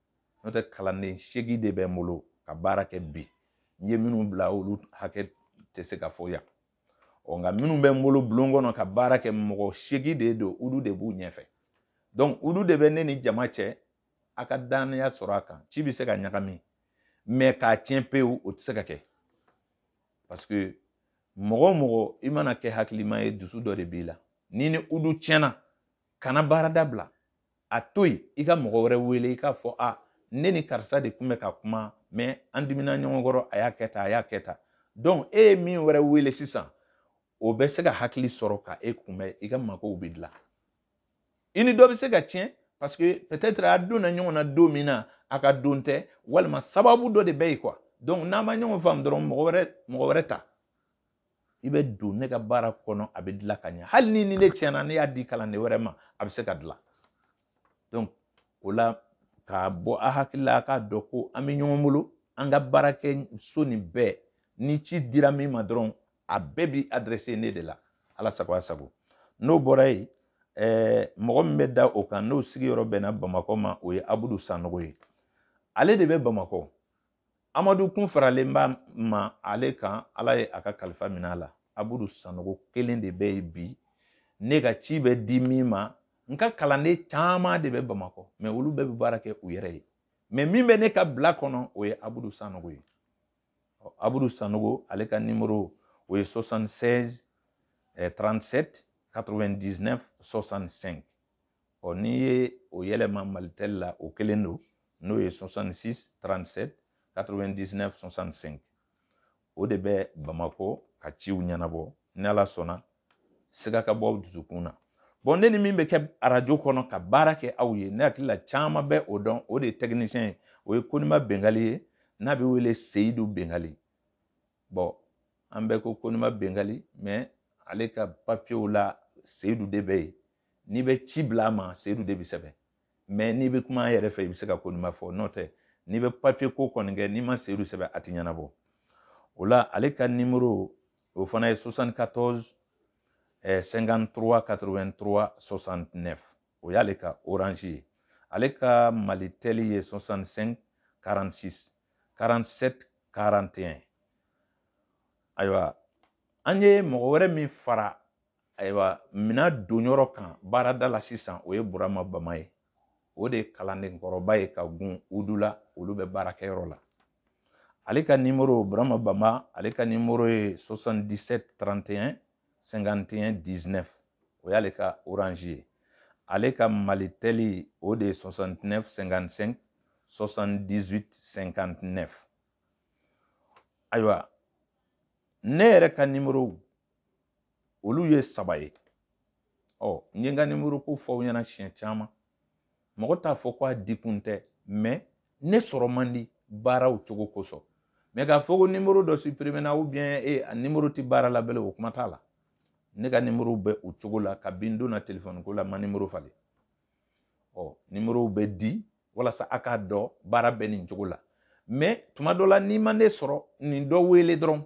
A: n'o tɛ kalanden seegin de bɛ n bolo ka baara kɛ bi n ye minnu bila olu hakɛ tɛ se ka fɔ yan ɔ nka minnu bɛ n bolo bulon kɔnɔ ka baara kɛ mɔgɔ seegin de don udu de b'u ɲɛfɛ donc udu de bɛ ne ni jama cɛ a ka dannaya sɔrɔ a kan ci bɛ se ka ɲagami mais k'a tiɲɛ pewu o tɛ se ka kɛ parce que mɔgɔ o mɔgɔ i mana kɛ hakilima ye dusu dɔ de b'i la n'i ni udu tiɲɛna kana baara dabila a to yen i ka mɔgɔ wɛrɛ wele i k'a fɔ ne ni karisa de tun bɛ ka kuma mais an dimina ɲɔgɔn kɔrɔ a y'a kɛ tan a y'a kɛ tan donc e ye min wɛrɛ wele sisan o bɛ se ka hakili sɔrɔ ka e kunbɛn i ka makow bɛ dilan i ni dɔ bɛ se ka tiɲɛ parce que peut-être a donna ɲɔgɔn na don min na a ka don tɛ walima sababu dɔ de bɛ yen quoi donc n'a ma ɲɔgɔn faamu dɔrɔn mɔgɔ wɛrɛ ta i bɛ don ne ka baara kɔnɔ a bɛ dilan ka ɲɛ hali n'i ni ne tiɲɛna ne y'a di kalanden wɛrɛ ma a bɛ se ka dilan donc o la k'a bɔ a hakili la a k'a dɔn ko an bɛ ɲɔgɔn bolo an ka baarakɛso nin bɛɛ ni ci dira min ma dɔrɔn a bɛɛ bi adressé ne de la ala sago a sago n'o bɔra yen eh, mɔgɔ min bɛ da o kan n'o sigiyɔrɔ bɛnna bamakɔ ma o ye abudu sanogo ye ale de bɛ bamakɔ amadu kun faralen b'a ma ale kan ala ye a ka kalifa minɛ a la abudu sanogo kelen de bɛ yen bi ne ka ci bɛ di min ma n ka kalanden caman de bɛ bamakɔ mais olu bɛɛ bɛ baara kɛ u yɛrɛ ye mais min bɛ ne ka bila kɔnɔ o ye abudu sanogo ye abudu sanogo ale ka nimoro o ye 76 37 99 65 ɔ n'i ye o yɛlɛma malitel la o kelen don n'o ye 66 37 99 65 o de bɛ bamakɔ ka ciw ɲɛnabɔ ni ala sɔnna siga ka bɔ aw dusukun na bon ne ni min bɛ kɛ arajo kɔnɔ ka baara kɛ aw ye ne hakili la caman bɛ o dɔn o de ye technicien ye o ye konima bengali ye n'a bɛ wele seyidu bengali bon an bɛɛ ko konima bengali mais ale ka papiyew la seyidu de bɛ yen n'i bɛ ci bila a ma seyidu de bɛ sɛbɛn mɛ n'i bɛ kuma a yɛrɛ fɛ i bɛ se ka konima fɔ n'o tɛ n'i bɛ papiye ko kɔni kɛ n'i ma seyidu sɛbɛn a tɛ ɲɛnabɔ o la ale ka nimoro o fana ye 74 53 83 69 o y'ale ka orange ye ale ka malitɛli ye 65 46 47 41 ayiwa an ye mɔgɔ wɛrɛ min fara ayiwa minan donyɔrɔ kan baarada la sisan o ye burama bama ye o de ye kalandenkɔrɔba ye ka gun udu la olu bɛ baarakɛyɔrɔ la ale ka nimoro burama bama ale ka nimoro ye 77 31 51 19 o y'ale ka orange ye ale ka malitɛli o de ye 69 55 78 59 ayiwa ne yɛrɛ ka nimoro olu ye saba ye ɔ n ye n ka nimoro ko fɔ aw ɲɛna siɲɛ caman mɔgɔ t'a fɔ ko a dikun tɛ mɛ ne sɔrɔ man di baaraw cogo kosɔn mɛ k'a fɔ ko nimoro dɔ siperimena u biɲɛ e a nimoro tɛ baara la belen o kuma t'a la ne ka nimoro bɛ o cogo la kabi n donna telefɔni ko la n ma nimoro falen ɔ nimorow bɛ di walasa a k'a dɔn baara bɛ nin cogo la mɛ tuma dɔ la n'i ma ne sɔrɔ nin dɔ wele dɔrɔn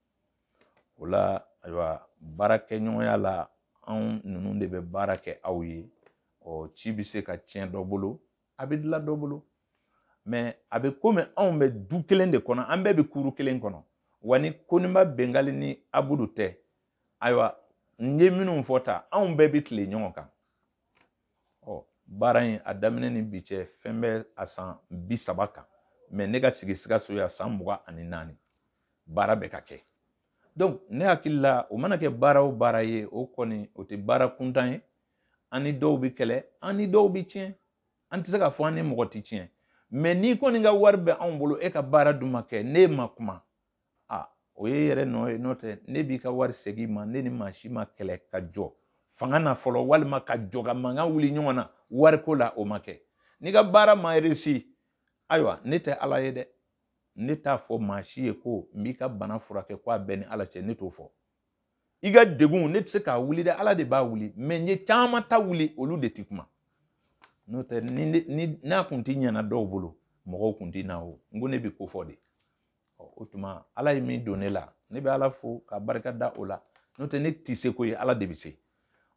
A: o la ayiwa baarakɛɲɔgɔnya la anw ninnu de bɛ baara kɛ aw ye ɔ ci bɛ se ka tiɲɛ dɔ bolo a bɛ dilan dɔ bolo mɛ a bɛ komi anw bɛ du kelen de kɔnɔ an bɛɛ bɛ kuru kelen kɔnɔ wa ni koniba bengali ni abudu tɛ ayiwa n ye minnu fɔ tan anw bɛɛ bɛ tile ɲɔgɔn kan ɔ baara in a daminɛ ni bi cɛ fɛn bɛ a san bi saba kan mɛ ne ka sigi sikaso yan san mugan ani naani baara bɛ ka kɛ donc ne hakili la o mana kɛ baara o baara ye o kɔni o tɛ baara kuntan ye an ni dɔw bɛ kɛlɛ an ni dɔw bɛ tiɲɛ an tɛ se k'a fɔ an ni mɔgɔ tɛ tiɲɛ mɛ n'i kɔni ka wari bɛ anw bolo e ka baara dun ma kɛ ne ma kuma a o y'i yɛrɛ nɔ ye n'o tɛ ne b'i ka wari segin i ma ne ni maa si ma kɛlɛ ka jɔ fanga na fɔlɔ walima ka jɔ ka mankan wuli ɲɔgɔn na wariko la o ma kɛ n'i ka baara ma resi ayiwa ne tɛ ala ye dɛ ne t'a fɔ maa si ye ko n b'i ka bana furakɛ ko a bɛ n ni ala cɛ ne t'o fɔ i ka degun ne tɛ se k'a wuli dɛ ala de b'a wuli mɛ n ye caman ta wuli olu de tɛ kuma n'o tɛ n'a kun tɛ ɲɛna dɔw bolo mɔgɔw kun tɛ na o n ko ne bɛ k'o fɔ de ɔ o tuma ala ye min don ne la ne bɛ ala fo ka barika da o la n'o tɛ ne tɛ se ko ye ala de bɛ se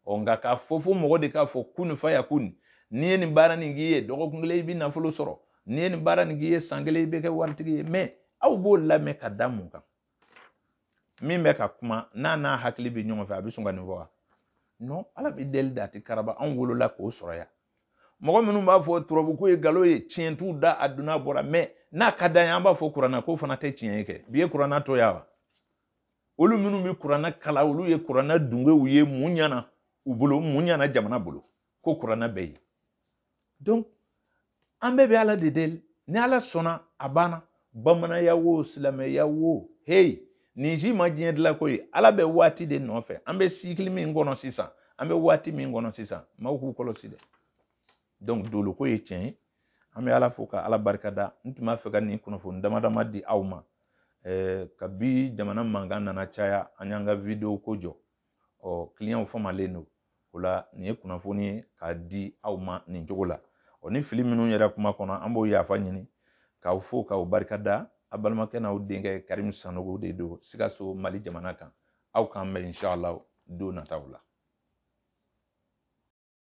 A: ɔ nka k'a fɔ fo mɔgɔ de k'a fɔ kunfayakun n'i ye nin baara nin k'i ye dɔgɔkun kelen i bɛ nafolo sɔrɔ n'i ye nin baara nin k'i ye san kelen i bɛ kɛ waritigi ye mɛ aw b'o lamɛn ka da mun kan min bɛ ka kuma n'a n'a hakili bɛ ɲɔgɔn fɛ a bɛ sɔn ka nin fɔ wa non ala bɛ deli de a tɛ karaba anw wolola k'o sɔrɔ yan mɔgɔ minnu b'a fɔ turabuko ye galon ye tiɲɛ t'u da a donna bɔra mɛ n'a ka d'an ye an b'a fɔ kuranna ko fana tɛ tiɲɛ ye kɛ bi ye kuranna to yan wa olu minnu bɛ kuranna kalan olu ye kuranna dungew ye mun ɲana u bolo mun ɲana jamana bolo ko kuranna bɛ yen donc an bɛɛ bɛ ala de deli ni ala sɔnna a banna bamananya wo silamɛya wo heyi nin si ma diɲɛ dilan ko ye ala bɛ waati de nɔfɛ an bɛ sikili min kɔnɔ sisan an bɛ waati min kɔnɔ sisan maaw k'u kɔlɔsi dɛ donc doloko ye tiɲɛ ye an bɛ ala fo ka ala barika da n tun b'a fɛ ka nin kunnafoni dama dama di aw ma eh, kabi jamana mankan nana caya an y'an ka video ko jɔ ɔ kiliyanw famalen don o la nin ye kunnafoni ye k'a di aw ma nin cogo la ɔ ni fili minnu yera kuma kɔnɔ an b'o yafa ɲini k'aw fo k'aw barika da a balimakɛ n'aw denkɛ karimu sanogo de don sikaso mali jamana kan aw k'an bɛn inshallah don nataw la